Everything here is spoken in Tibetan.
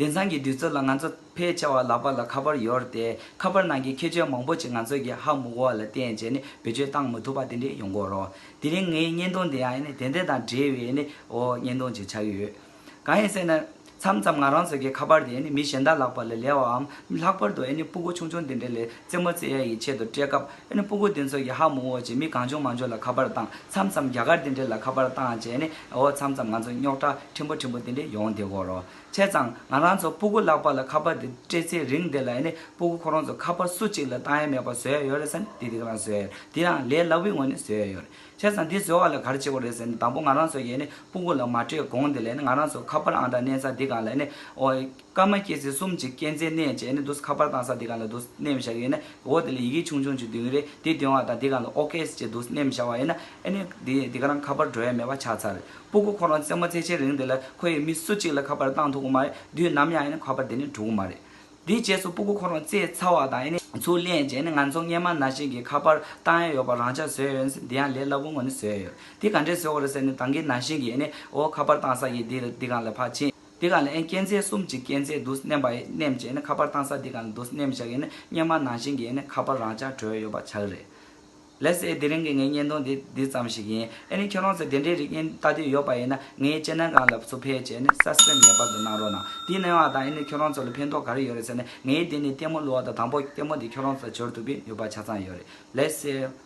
དེང་སང་གི་དུས་ཚོད་ལ་ང་ཚོ་ཕལ་ཆེ་བ་ལག་པ་ལ་ཁ་པར་ཡོད་དེ། ཁ་པར་ནང་གི་ཁྱད་ཆོས་མང་པོ་ཞིག་ང་ཚོས་ཀྱིས་ཧ་མུག་བ་ལ་བརྟེན་བྱས་ནས་བེད་སྤྱོད་བཏང་མི་ཐུབ་པ་དེ་འདྲས་ཡོང་གི་རོ། དེ་རིང་ངའི་བརྙན་ཐུང་དེ་ཡང་དེ་འདྲས་དང་འབྲེལ་བའི་བརྙན་ཐུང་ཞིག་ཆགས་ཡོད། གང་ཡིན་ཟེར་ན། མཚམས་མཚམས་ང་རང་ཚོ་གིས་ཁ་པར་དེ་མི་གཞན་དག་ལག་པ་ལ་ལས་བའམ་ལྷག་པར་དུ་སྤུ་གུ་ཆུང་ཆུང་དེ་འདྲས་ལས་རྩེད་མོ་རྩེ་ཡ་ཡི་ཆེད་དུ་སྤྲད་སྐབས། ཨ་ནི་སྤུན་དགུ་དེ་ཚོ་ཡ་ཧ་མུ་འོ་ཅེས་མི་གང་བྱུང་མ་འབྱོར་ལ་ཁ་པར་བཏང་མཚམས་མཚམས་རྒྱ་གར་དེ་འདྲས་ལ་ཁ་པར་བཏང་བྱས་ནས་འོ་མཚམས་མཚམས་ང་ཚོ་རྙོག་དྲ་ཕྲན་བུ་ཕྲན་བུ་དེ་འདྲས་ཡོང་དེ་གོ་རོ་ཆེ་ཙང་ང་རང་ཚོ་སྤུ་དགུ་ལག་པ་ལ་ཁ་པར་དེ་སྤྲད་ཚེ་རིང་དེ་ལ་ཨ་ནི་སྤུ་དགུ་ཁོ་རང་ཚོ་ཁ་པར་སུ་གཅིག་ལ་བཏང་ཡ་མེད་པ་བཟོས་ཡ་ཡོད་རེད་ཟེར་ནས་དེ་དེ་ག་རང་བཟོས་ཡ་རེད་དེ་ཡང་ལས་སླ་བོའི་ངོས་ནས་བཟོས་ཡ་ཡོད་རེད་ཆེ་ཙང་དེ་བཟོ་བ་ལ་ག་རེ་བྱེད་དགོས་རེད་ཟེར་ནས་དང་པོ་ང་རང་ཚོ་ཡས་ནི་སྤུ་དགུ་ལ་མ་སྤྲད་གོང་དེ་ལ་ཨ་ནི་ང་རང་ཚོ་ཁ་པར་ཨང་གྲངས་གནས་ཚ་དེ་གང་ལ་ཨ་ནི་འོ། སྐར་མ་སྐྱེ་ཚེ་གསུམ་གྱི་སྐྱེ་མཚན་གནས་བྱས་ནས་འདུག་ཁ་པར་བཏང་ས་འདི་ག་ལ་འདུག་སྣེ་མི་བྱ་གི་ཡིན་ན་འོག་དེ་ལ་ཡི་གེ་ཆུང་ཆུང་གཅིག་འདུས་གི་རེད་དེ་འདོན་བ་དང་འདི་ག་ལ་ཨོ་ཀེ་ཅེས་འདུག་སྣེ་མི་བྱ་བ་ཡིན་ན་ཨེ་ནས་དེ་འདི་ག་རང་ཁ་པར་འགྲོ་ཡ་མེད་པ་ཆགས་ཚར་རེད་སྤུ་གུ་ཁོ་རང་རྩེད་མོ་རྩེ་བྱེད་རིང་དེ་ལ་ཁོ་ཡི་མི་སུ་གཅིག་ལ་ཁ་པར་བཏང་ཐུབ་གི་མ་རེད་དུས་ནམ་ཡང་ཨེ་ནས་ཁ་པར་དེ་ནས་འགྲོ་གི་མ་རེད། དེའི་རྗེས་སུ་སྤུ་གུ་ཁོ་རང་རྩེད་ཚར་བ་དང་ཨེ་ནས་ཚུར་ལེན་བྱས་ནས་ང་ཚོ་སྔས་མ་ན་ཤིང་གི་ཁ་པར་བཏང་ཡ་ཡོད་པ་རང་ཅག་བཟོས་ཡོད་ཟེར་འདི་ཡང་ལས་སླ་པོ་ངོ་ནས་བཟོས་ཡོད་རེད་དེ་ག་འདྲས་བཟོས་བ་རེད་ཟེར་ནས་ད་གིན་ན་ཤིང་གི་ཨེ་ནས་འོ་ཁ་པར་བཏང་ས་ཡིན་འདི་འདི་ག་ལ་ཕར་ཕྱིན། འདི་གང་ལས་མཁྱེན་བརྩེ་གསུམ་གྱི་སྐྱེད་མཛད་དུ་བསྣན་པ་ཡི་བསྣན་བྱས་ནས་ཁ་པར་བཏང་ས་འདི་གང་ལ་དུ་བསྣན་བཞག་ཡིན་ན་སྙན་མ་ནང་བཞིན་གྱི་ཁ་པར་རང་ཅག་གྲོལ་ཡོད་པ་ཆགས་རེད། ལེ་ཚེ་དེ་རིང་གི་ངའི་བརྙན་ཐུང་འདི་འདི་ཙམ་ཞིག་ཡིན། ཨེ་ནི་ཁྱོད་རང་ཚོས་དེ་འདྲའི་རིགས་བརྙན་བལྟ་དུས་ཡོད་པ་ཡིན་ན་ངའི་ལྕེ་སྣ་གང་ལ་སུ་ཕེབས་བྱས་ནས Subscribe ངེས་པར་དུ་གནང་རོགས་གནང། དེ་གནང་བ་དང་ཨེ་ནི་ཁྱོད་རང་ཚོ་ལ་ཕན་ཐོག་ག་རེ་ཡོད་རེད་ཟེར་ནས་ངའི་དེ་ནི་ལྟད་མོ་གླུ་བ་དང་དང་པོ་ལྟད་མོ་དེ་ཁྱོད་རང་ཚོ་ལ་བྱོལ་ཐུབ་པའི་ནུས་པ་ཆ་ཚང་ཡོད་རེད། ལེ་ཚེ།